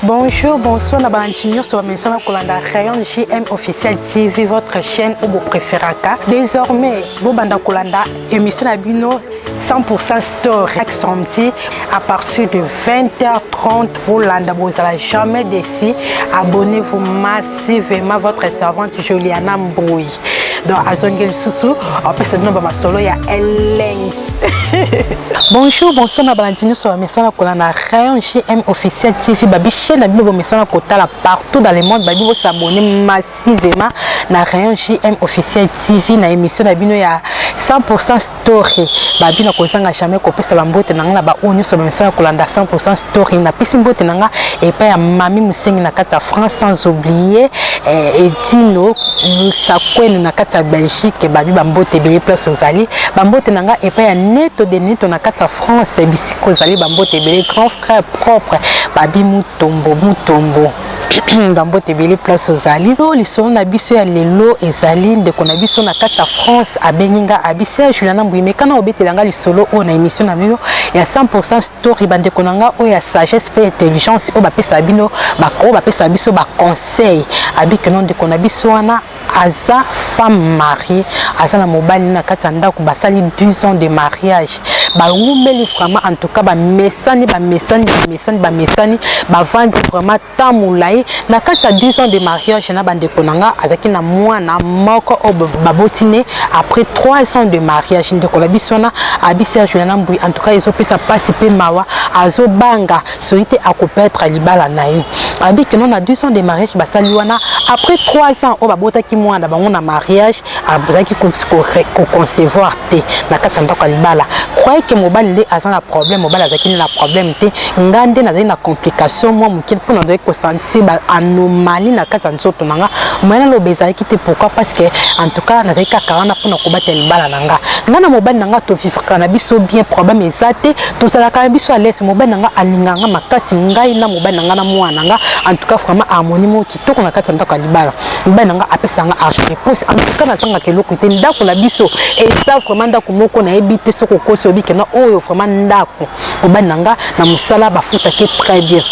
Bonjour, bonsoir na bandi nyonso bamesana kolanda rayon JM officiel TV votre chaîne oyo bopreferaka désormais bobanda kolanda émission na bino 100% store chaque samedi à partir de 20h30 bolanda bozala jamais déçu abonnez-vous masse merci vraiment votre servante Juliana Mbui donc azongi lisusu apesa bino bamasolo ya elengi bonjour bonsoir na balandi nyonso bamesana kola na rayon gm officiel tv babi chaine na bino bomesana kotala partout dans le monde babi bosabone massivement na rayon gm officiel tv na émission na bino ya 100 story babi na kozanga jamais kopesa bambote na ngai na baoyo nyonso bamesana kolanda 100 story napesi mbote na ngai epai ya mami mosengi na kati ya france sans oublier eh, edino sakwenu na kati ya belgique babi bambote ebele place ozali bambote na ngai epai ya neto de neto na kati ya france bisika ozali bambote ebele grand frère propre babi mutombo mutombo bambote ebele place ozali to lisolo na biso ya lelo ezali ndeko na biso na kati ya france abengi nga abisi ya juliana mbuyi mekana obetela nga lisolo oyo na émission na bino ya 100 story bandeko na nga oyo ya sagesse mpe intelligence oyo bapesa bino oyo bapesa biso baconseil abikeno ndeko na biso wana aza femme mariée aza na mobali na kati ya ndako basali 12 ans de mariage bawumeli vraiment en tout cas bamesani bamesani bamesani bamesani bavandi vraiment temps molai na kati ya 12 ans de mariage na bandeko na nga azalaki na mwana moko oyo baboti ne après 3 ans de mariage ndeko na biso wana abisi ya juliana mbui en tout cas ezopesa mpasi mpe mawa azobanga soki te akopetre libala na ye abi kino na 200 de mariage basali wana après 3 ans oyo babotaki mwana na bango na mariage azalaki koconcevoir te na kati ya ndako ya libala croye ke mobali nde aza na problème mobali azalaki nde na problème te nga nde nazali na complication mwa moke mpo nazalaki kosanti ba anomalie na kati ya nzoto na nga moye naloba ezalaki te pourquoi parce que en tout cas nazalaki kaka wana mpo na kobatela libala na nga nga na mobali na nga tovivaka na biso bien problème eza te tozalaka biso alese mobali na nga alingaka nga makasi ngai na mobali na nga na mwana na nga en tout cas vraiment harmonie moko kitoko na kati ya ndako ya libala mobali na nga apesa nga argent de poste en tout cas nazangaka eloko te ndako na biso eza vraiment ndako moko nayebi te soki okosi obikena oyo vraiment ndako mobali na nga na mosala bafutaki très bien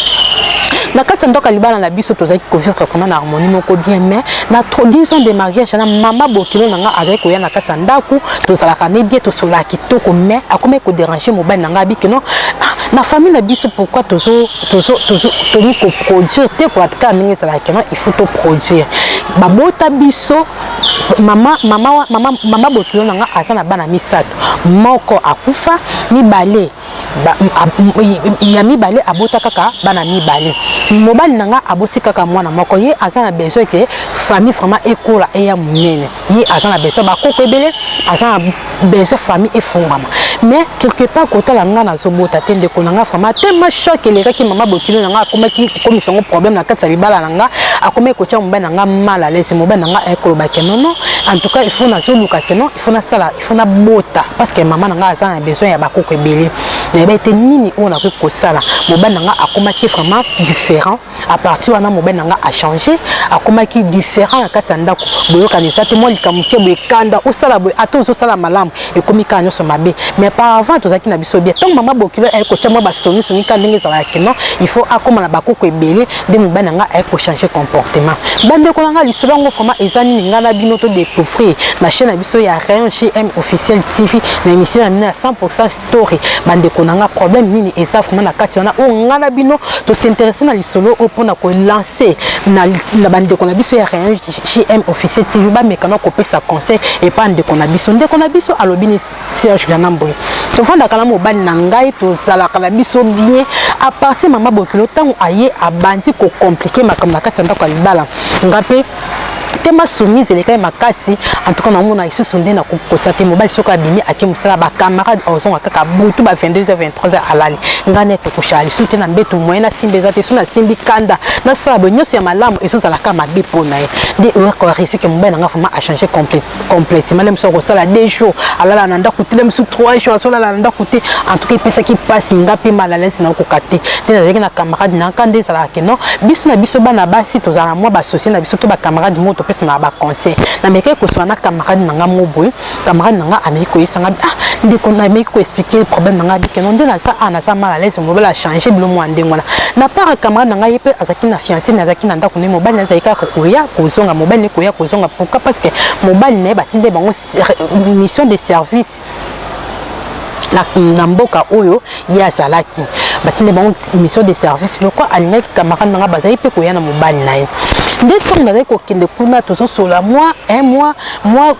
na kati ya ndoka libala na biso tozalaki kovivre kuna na harmonie moko bien mais na 10 ans de mariage na mama bokilo na nga azalaki koya na kati ya ndako tozalaka ne bien tosolaka kitoko mais akomaki koderange mobali na ngai abiki no ah, na famille na biso pourquoi tozo tozo tozo tomi ko produire te ko atka ndenge ezalaki no il faut to produire babota biso mama mama mama mama bokilo na nga aza na bana misato moko akufa mibale ba, ya mibale abota kaka bana mibale mobali na nga aboti kaka mwana moko ye aza na besoin ke famille vraiment ekola eya monene ye aza na besoin bakoko ebele aza na besoin famille efungwama mais quelque part kotala nga nazobota te ndeko na nga vraiment tellement choc elekaki mama bokilo na nga akomaki komisa ngo problème na kati ya libala na nga akomaki kotya mobali na nga mal à l'aise mobali na nga ayekoloba ke nono en tout cas il faut nazoluka ke non il faut nasala faut nabota parce que mama na ngai aza na besoin ya bakoko ebele nayebi ete nini oyo nakoki kosala mobali na ngai akomaki vraiment différent à partir wana mobali na ngai achange akomaki différent na kati ya ndako boyokani eza te mwa likambo moke boye kanda osala boye ata ozosala malamu ekomi kaka nyonso mabe mais par avant tozalaki na biso bien ntango mama bokilo aye kotya mwa basonisoni kaka ndenge ezalaka kino il faut akóma na bakoko ebele nde mobali na ngai aye kochange comportement bandeko na ngai lisolo yango vraiment eza nini ngai na bino todecouvrir na chaîne na biso ya rayon gm officiel tv na émission ya bino ya 100 story bandeko na ngai problème nini eza vraiment na kati wana oyo ngai na bino tosinteresse na lisolo oyo mpona kolancer na bandeko na biso ya rayon gm officiel tv bamekana kopesa conseil epa ndeko na biso ndeko na biso alobi Serge Ganambwe tofandaka na mobali na ngai tozalaka na biso bien à partir mama bokilo ntango aye abandi kocomplike makambo na kati ya ndako ya libala nga mpe tema soumise elekaki makasi en tout cas namona lisusu nde na kokosa te mobali soki abimi ake mosala bacamarade ozonga kaka butu ba 22 23 alali ngai nde tokoshaka lisusu te na mbeto moyen nasimba eza te so nasimbi kanda nasala boye nyonso ya malamu ezozalaka mabe mpo na ye nde oyakoresike mobali na ngai vraimen achange complete complète male mosusu akosala deux jours alala na ndako te mosusu trois jours azolala na ndako te en tout cas epesaki mpasi nga mpe malalesi nakokoka te nde nazalaki na camarade na nka nde ezalaka ke non biso na biso bana basi tozala mwa basosie na biso to bacamarade moko topesanaka baconseil namekaki koswana na camarade na nga moko boye camarade na nga ameki koyebisa nga ah ndeko nameki koexplike problème na nga bike non nde naza a naza malalesi mobala change bilo mwa ndenge wana na part camarade na ngai ye mpe azalaki na fiancé nazalaki na ndako mais mobali na azali kaka koya kozonga mobali ne koya kozonga pourquoi parce que mobali na ye batindeli bango mission de service na, na mboka oyo ye azalaki batindeli bango mission de service lokwa alingaki camarade na ngai bazali mpe koya na mobali na ye nde ntango nazali kokende kuna tozosolola mwa un mois mwa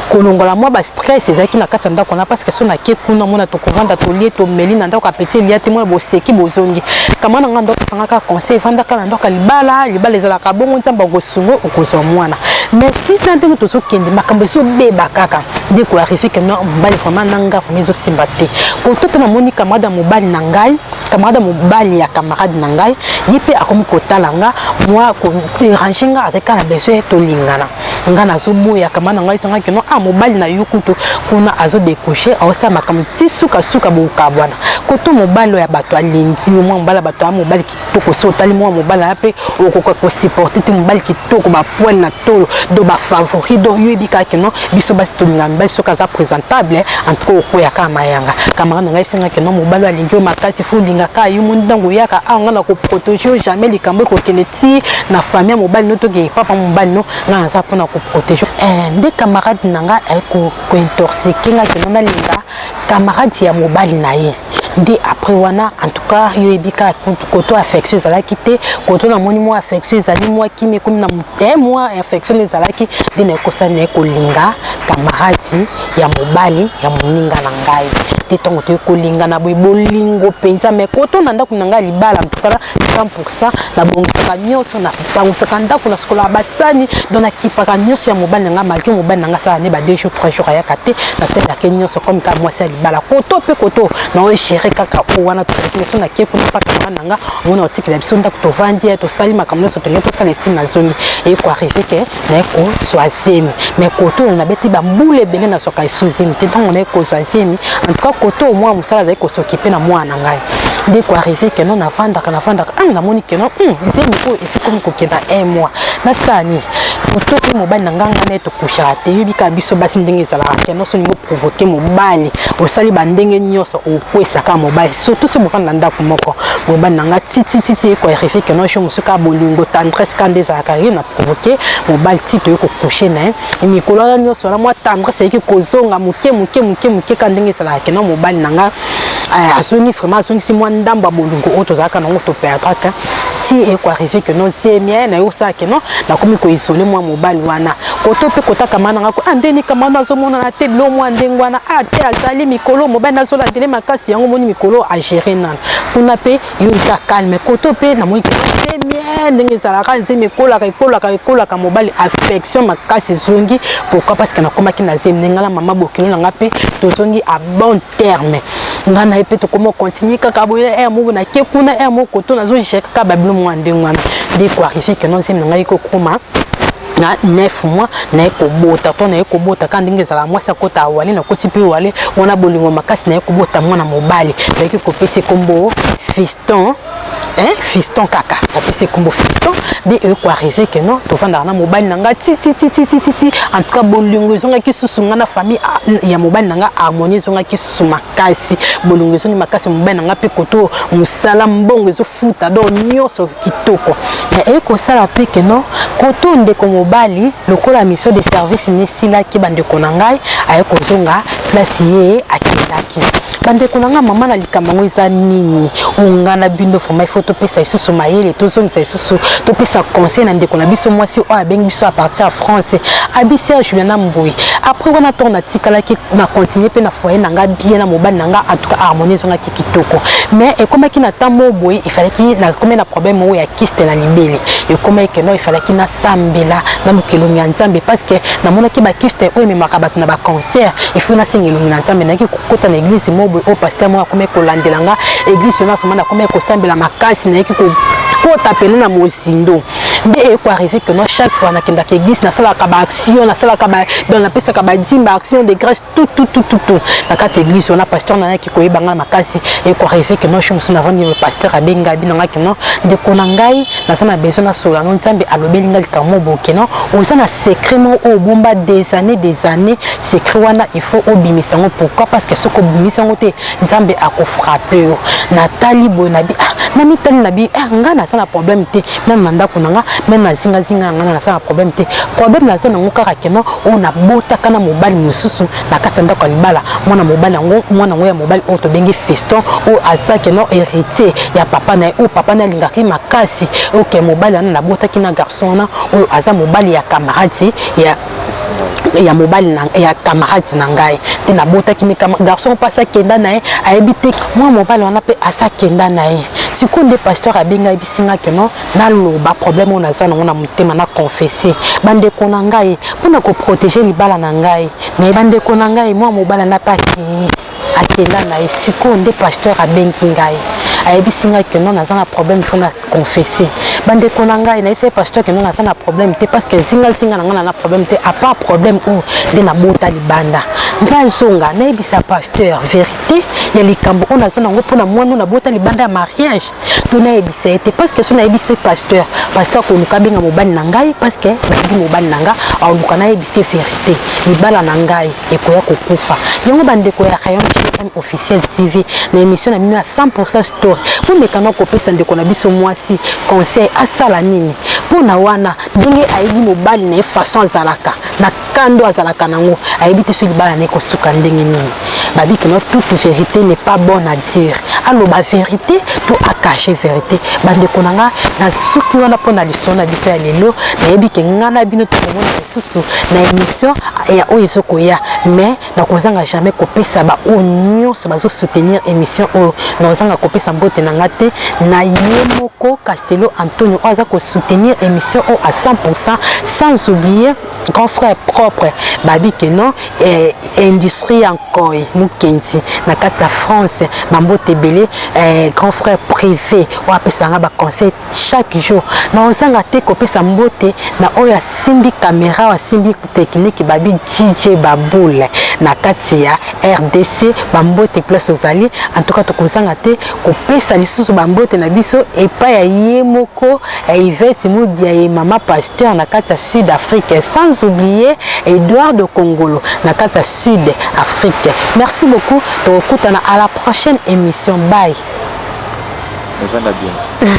kolongola mwa ba stress ezalaki na kati ya ndako na parce que so nake kuna mona tokovanda tolie tomeli na ndako apeti elia te mona boseki bozongi kama na ngai ndako esangaka conseil evandaka na ndako ya libala libala ezalaka bongo nzambe akosunga okozwa mwana mais tina ndenge tozokende makambo ezobeba kaka nde koarive ke no mobali vraiment na ngai vraimen ezosimba te koto mpe namoni camarade ya mobali na ngai camarade ya mobali ya camarade na ngai ye mpe akomi kotala nga mwa koderange nga azalaki kaka na besoin tolingana nga nazoboya kama na ngai esangaki no ah mobali na yo kutu kuna azo decouche aosala makambo ti sukasuka bokabwana koto mobali oyo ya bato alingi yo mwa mobali ya bato ya mobali kitoko so otali mwa mobali ya mpe okoka kosupporte te mobali kitoko bapoile na tolo do bafavori do yo yebi kaka no biso basi tolinga mibali soki aza présentable en tout cas okoya kaka mayanga kamara na ngai esengaki no mobali oyo alingi yo makasi fo olingaka yo moni ntango oyaka awa ah, ngai nakoprotege yo jamais likambo ekokende ti na famille ya mobali no toke papa mobali no nga naza mpona koprotege eh, nde camarade na nga eh, kointorsike nga keno nalinga camarade ya mobali na ye nde après wana en tout cas yo yebi kaka koto affection ezalaki te koto namoni mwa affection ezali mwa kimi ekomi na mote eh, mwa affection ezalaki nde nakosa naye kolinga camarade ya mobali ya moninga na ngai te ntango toye kolingana boye bolingo mpenza mai koto na ndako na ngai libala mtukala bangusaka nabongisaka nyonso bangusaka ndako nasukolaka basani don nakipaka nyonso ya mobali na ngai malgre mobali na ngai asala ne ba deux jours trois jours ayaka te nasalelake nyonso comme kaka mwasi ya libala koto mpe koto naoyo gere kaka oyo wana tozalaki biso nake kuna mpaka mama na ngai omona otikela biso ndako tovandi tosali makambo nyonso tonge tosala esili na zongi eye koarrive ke naye kozwa zemi mai koto oyo nabeti bambula ebele nazwaka esu zemi te ntango naye kozwa zemi antuka koto oyo mwana mosala azali kosokipe na mwana na ngai nde koarrive keno nafandaka nafandaka a ah, namoni keno hmm, zemi oyo esikomi kokenda un mois nasala nini koto oyo mobali na ngai ngai naye tokushaka te yebi kaka biso basi ndenge ezalaka keno so olingi oprovoke mobali osali bandenge nyonso okwesaka mobali surtout so bofanda na ndako moko mobali na ngai titititi ekoarrive keno jo mosuka bolingo tendresse ka nde ezalaka ye na provoquer mobali ti toye kokouche na ye mikolo wana nyonso wana mwa tendresse eyaki kozonga moke moke moke moke kaka ndenge esalaka kena mobali na nga eh, azongi vraiment azongisi mwa ndambo ya bolingo oyo tozalaka nango toperdraka ti ekoarrive ke no zemie na ye osala ke no nakomi koisole mwa mobali wana koto mpe kotaka ma na nga ko ah, ndeni kamano azomonana te bilo mwa ndenge wana a ah, te azali mikolo mobali nazolandele makasi yango moni mikolo agere nana kuna mpe yo oza calme koto mpe namoni bien ndenge ezalaka nzembo ekolaka ekolaka ekolaka mobali affection makasi ezongi pourquoi parce que nakomaki na zemi ngai na mama bokilo na ngai mpe tozongi à bon terme ngai na ye mpe tokoma continue kaka boye na heure moko nake kuna heure moko to nazojika kaka babino mwa ndenge wana nde koarrive keno nzemi na ngai kokoma na 9 mois naye kobota to naye kobota kaka ndenge ezalaka mwasi akota awale nakoti mpe wale wana bolingo makasi naye kobota mwana mobali nayaki kopesa ekombo fiston eh, fiston kaka napesi ekombo fiston nde eyoko arrive ke non tofandaka na mobali na ngai titititititi en tout cas bolingo ezongaki susu ngai na famille ah, ya mobali na ngai harmonie ezongaki susu makasi bolongi ezongi makasi mobali na ngai mpe koto mosala mbongo ezofuta donc nyonso kitoko me ekosala mpe keno koto ndeko mobali lokola mission de service nesilaki bandeko na ngai aye kozonga place ye akendaki bandeko na ngai mama na likambo yango eza nini ongana bino vraimen ifo topesa lisusu mayele tozongisa lisusu biso topesa conseil na ndeko na biso mwasi oyo abengi biso à partir ya france abi serge juliana mboye après wana ntongo natikalaki na continue mpe na foyer na ngai bien na mobali na ngai entuka harmonie ezongaki kitoko mais ekomaki na temps moko boye efalaki nakomi na problème moko ya kiste na libele ekomaki keno efalaki nasambela na lukelongi ya nzambe parce que namonaki bakiste oyo ememaka bato na bacancer efo nasenga elongi na nzambe nayaki kota na eglise moko boye oyo paster moko akomaki kolandela nga eglise wana vraimen nakomaki kosambela makasi nayeki kota pene na mozindo nde eko arrive que moi chaque fois nakendaka eglise nasalaka baaction nasalaka donc napesaka badime baaction de grâce tout tout tout tout tout na kati ya eglise wana pasteur nayaki koyeba ngai makasi eko arrive que moi chose mosusu navandi pasteur abenga bino ngai kino ndeko na ngai naza na besoin na solo yango nzambe alobeli nga likambo moko boke non oza na secret moko oyo obomba des années des années secret wana il faut obimisa yango pourquoi parce que soki obimisa yango te nzambe akofrape yo natali boye nabi ah namitali nabi ah ngai naza na problème te meme na ndako na nga meme na zingazinga ya ngai naza na problème te problème naza nango kaka keno oyo nabotaka na mobali mosusu na kati ya ndako ya libala mwana mobali yango mwana yango ya mobali oyo tobengi feston oyo azaki no héritier ya papa na ye oyo papa na alingaka ye makasi oke mobali wana nabotaki na garçon wana oyo aza mobali ya kamaradi ya ya mobali na ya camarade na ngai te nabotaki ne garçon mpe asakenda na ye ayebi te mwa mobali wana mpe asakenda na ye sikoyo nde pasteur abengai bisinga keno naloba problème oyo naza nango na motema na confesse bandeko na ngai mpo na koprotege libala na ngai naye bandeko na ngai mwa mobala na mpe akei akenda na ye sikoyo nde pasteur abengi ngai ayebisi ngai ke non naza na problème fo na confesse bandeko na ngai nayebisa ye pasteur ke non naza na problème te parce que zingazinga na ngai na na problème te apart problème oyo nde nabota libanda nde azonga nayebisa pasteur vérité ya likambo oyo naza nango mpo na mwana oyo nabota libanda ya mariage to nayebisa ye te parce que so nayebisi ye pasteur pasteur akoluka abenga mobali na ngai parce que nayebi mobali na ngai aoluka nayebisi ye verité libala na ngai ekoya kokufa yango bandeko ya rayon gm officiel tv na émission na bino ya 100 story bomekana kopesa ndeko na biso mwasi conseil asala nini mpo na wana ndenge ayebi mobali na ye façon azalaka na kando azalaka nango ayebi te so libala na ekosuka ndenge nini babi kino toute vérité n'est pas bonne à dire aloba vérité to acache vérité bandeko na nga nasuki wana mpo na lisolo na biso ya lelo nayebi ke nga na bino tokomona lisusu na émission ya oyo ezokoya mais nakozanga jamais kopesa baoyo nyonso bazosoutenir émission oyo nakozanga kopesa mbote na nga te na ye moko castello antonio oyo aza kosoutenir émission oyo à 100 sans oublier grand frère propre babi que non eh, industrie ya nkoi mokenzi na kati ya france bambote ebele eh, grand frère privé oyo apesaka nga baconseil chaque jour na ozanga te kopesa mbote na oyo asimbi kamera oyo asimbi technique babi jj baboule na kati ya rdc bambote place ozali en tout cas tokozanga te kopesa lisusu bambote na biso epai ya ye moko eh, Yvette Mudiaye mama pasteur na kati ya Sud Afrique sans oublier Eduardo Kongolo na kati ya Sud Afrique merci beaucoup tokokutana à la prochaine émission bye November Beans.